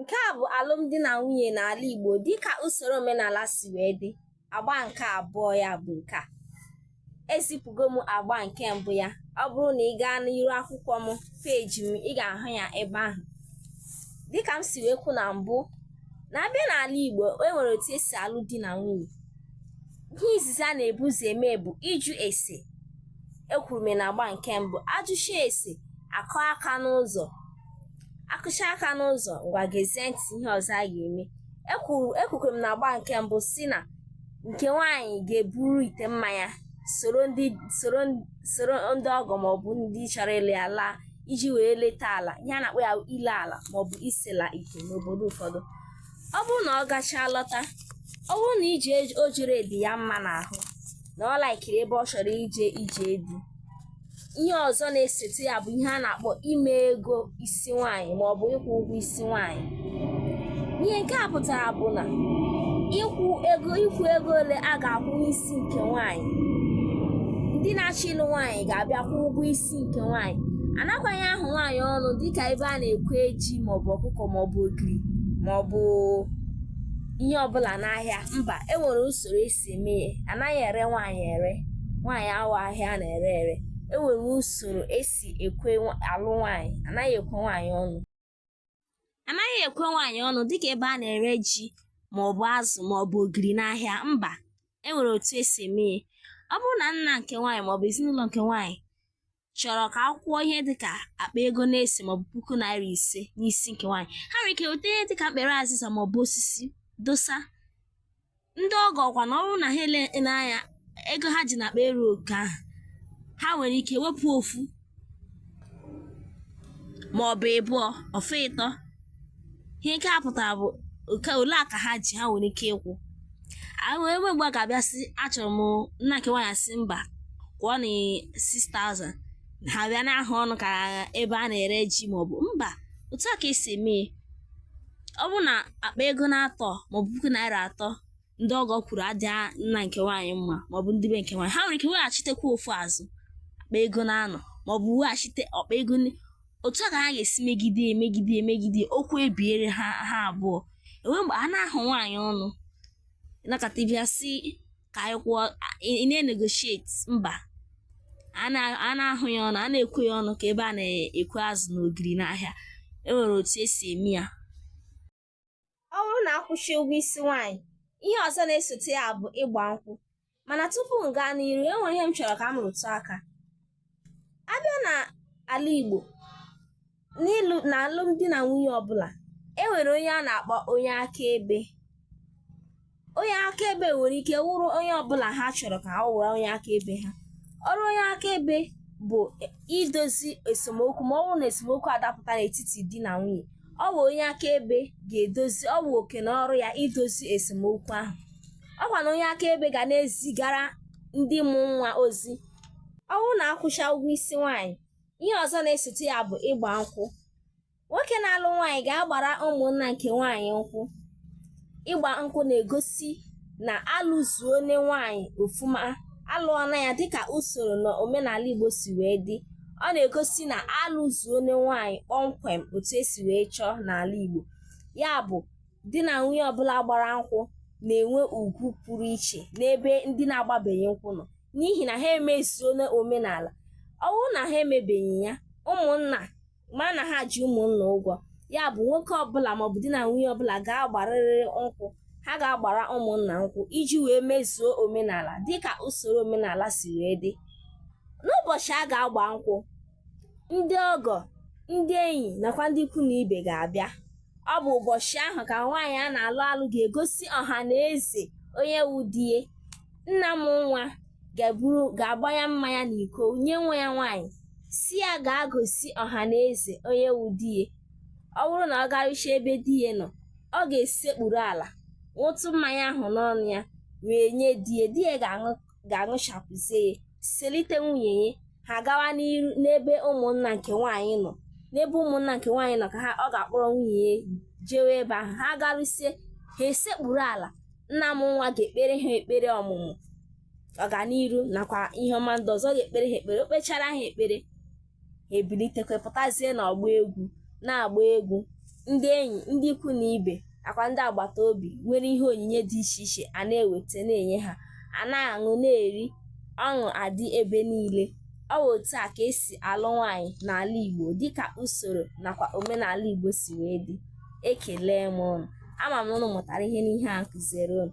Nke a bụ alụmdi na nwunye n'ala Igbo dịka usoro omenala si wee dị. Agba nke abụọ ya bụ nke a. Ezipụgo m agba nke mbụ ya. Ọ bụrụ na ị gaa n'iru akwụkwọ m peeji m ị ga-ahụ ya ebe ahụ. Dịka m si wee kwu na mbụ na abịa n'ala Igbo e nwere otu esi alụ di na nwunye. Ihe izizi a na-ebu ụzọ eme bụ ịjụ ese ekwuru m na agba nke mbụ ajụcha ese akụọ aka n'ụzọ akụcha aka n'ụzọ ngwa gezie ntị ihe ọzọ a ga-eme ekwuru ekwukwere m na agba nke mbụ sị na nke nwaanyị ga-eburu ite mmanya soro ndị soro soro ndị ọgọ maọbụ ndị chọrọ ịlụ ya laa iji wee leta ala ihe a na-akpọ ya ile ala maọbụ isela ite n'obodo ụfọdụ ọ bụrụ na ọ gachaa lọta ọ bụrụ na ije o jere dị ya mma n'ahụ na ọ laikiri ebe ọ chọrọ ije ije di ihe ọzọ na-esote ya bụ ihe a na-akpọ ime ego isi nwaanyị ma ọ bụ ịkwụ ụgwọ isi nwaanyị ihe nke a pụtara bụ na ịkwụ ego ịkwụ ego ole a ga-akwụ n'isi nke nwaanyị ndị na-achọ ịlụ nwaanyị ga-abịa kwụ ụgwọ isi nke nwaanyị anakwanụghị ahụ nwaanyị ọnụ dịka ebe a na-ekwe ji maọbụ ọkụkọ maọbụ ogiri maọbụ ihe ọbụla n'ahịa mba enwere usoro esi si eme ihe anaghị ere nwaanyị ere nwaanyị abụghị ahịa a na-ere ere e nwere usoro esi ekwe alụ nwaanyị anaghị ekwe nwaanyị ọnụ anaghị ekwe nwaanyị ọnụ dịka ebe a na-ere ji maọbụ azụ maọbụ ogiri n'ahịa mba e nwere otu esi eme ihe ọ bụrụ na nna nke nwaanyị maọbụ ezinụlọ nke nwaanyị chọrọ ka a kwụ kwụọ ihe dịka akpa ego na-ese maọbụ puku naira ise n'isi nke nwaanyị ha nwere ike weta ihe dịka mkpere azịza maọbụ osisi dosa ndị ọgọ ọkwa na ọ bụrụ na ha ele n'anya ego ha ji n'akpa erughị oke ahụ ha nwere ike wepụ ofu maọbụ ịbụọ ọ fọ ịtọ ihe nke a pụtara bụ nke ole a ka ha ji ha nwere ike ịkwụ enwe enweghị mgbe a ga-abịa sị achọrọ m nna nke nwaanyị asị mba kwụọnụ 6000 ha bịa na-ahụ ọnụ ka ebe a na-ere ji maọbụ mba otu a ka esi eme ya. ọ bụrụ na akpa ego na-atọ maọbụ puku naira atọ ndị ọgọ kwuru adịghị nna nke nwaanyị mma maọbụ ndị be nke nwaanyị ha nwere ike weghachitekwa ofu o zuo akpa ego na-anọ maọbụ weghachite akpa ego ni- otu a ka ha ga-esi megide emegide emegide okwu ebiere ha ha abụọ enweghị mgbe a na-ahụ nwaanyị ọnụ nọkata bịa sị ka anyị kwụọ ị na-negotiate mba a na- anaghị ahụ ya ọnụ anaghị ekwe ya ọnụ ka ebe a na-ekwe azụ na ogiri n'ahịa e nwere otu esi eme ya ọ bụrụ na akwụcha ụgwọ isi nwaanyị ihe ọzọ na-esote ya bụ ịgba nkwụ mana tupu m gaa n'iru e nwere ihe m chọrọ ka m rụtụ aka abịa na ala Igbo n'ịlụ na alụmdi na nwunye ọbụla e nwere onye a na-akpọ onye akaebe onye akaebe nwere ike wụrụ onye ọbụla ha chọrọ ka ọ wụrụ onye akaebe ha ọrụ onye akaebe bụ idozi esemokwu ma ọ bụrụ na esemokwu adapụta n'etiti di na nwunye ọ bụ onye akaebe ga-edozi ọ bụ oke na ọrụ ya idozi esemokwu ahụ ọkwa na onye akaebe ga na-ezigara ndị mụ nwa ozi ọ bụrụ na akwụcha ụgwọ isi nwaanyị ihe ọzọ na-esote ya bụ ịgba nkwụ nwoke na-alụ nwaanyị ga-agbara ụmụnna nke nwaanyị nkwụ ịgba nkwụ na-egosi na alụzuone nwaanyị ofuma alụọna ya dịka usoro na omenala igbo si wee dị ọ na-egosi na alụzuone nwaanyị kpọmkwem otu esi wee chọọ n'ala igbo ya bụ di na nwunye ọbụla gbara nkwụ na-enwe ugwu pụrụ iche n'ebe ndị na-agbabeghị nkwụ nọ n'ihi na ha emezuona omenala ọ bụrụ na ha emebeghị ya ụmụnna ma na ha ji ụmụnna ụgwọ ya bụ nwoke ọbụla maọbụ di na nwunye ọbụla ga-agbarịrị nkwụ ha ga-agbara ụmụnna nkwụ iji wee mezuo omenala dịka usoro omenala si wee dị n'ụbọchị a ga-agba nkwụ ndị ọgọ ndị enyi nakwa ndị ikwu na ibe ga-abịa ọ bụ ụbọchị ahụ ka nwaanyị a na-alụ alụ ga-egosi ọha na eze onye wu di ya nna mụ nwa ga-eburu ga-agbanye mmanya na iko nye nwa ya nwaanyị sị ya gaa gosi ọha na eze onye wu di ya ọ bụrụ na ọ garucha ebe di ya nọ ọ ga-esekpuru ala ṅụtụ mmanya ahụ n'ọnụ ya wee nye di ya di ya ga-aṅụchapụzie ya selite nwunye ya ha gawa n'iru n'ebe ụmụnna nke nwaanyị nọ n'ebe ụmụnna nke nwaanyị nọ ka ha ọ ga-akpọrọ nwunye ya jewe ebe ahụ ha garusie ha esekpuru ala nna mụ nwa ga-ekpere ha ekpere ọmụmụ ọganiru nakwa ihe ọma ndị ọzọ ọ ga-ekpere ha ekpere o kpechara ha ekpere ha ebilitekwa pụtazie n'ọgbọ egwu na-agba egwu ndị enyi ndị ikwu na ibe nakwa ndị agbata obi nwere ihe onyinye dị iche iche a na-eweta na-enye ha a na-aṅụ na-eri ọṅụ adị ebe niile ọ bụ otu a ka esi alụ nwaanyị n'ala Igbo dịka usoro nakwa omenala Igbo si wee dị Ekele m ụnụ, ama m na ụnụ mụtara ihe n'ihe a m kụziere ụnụ.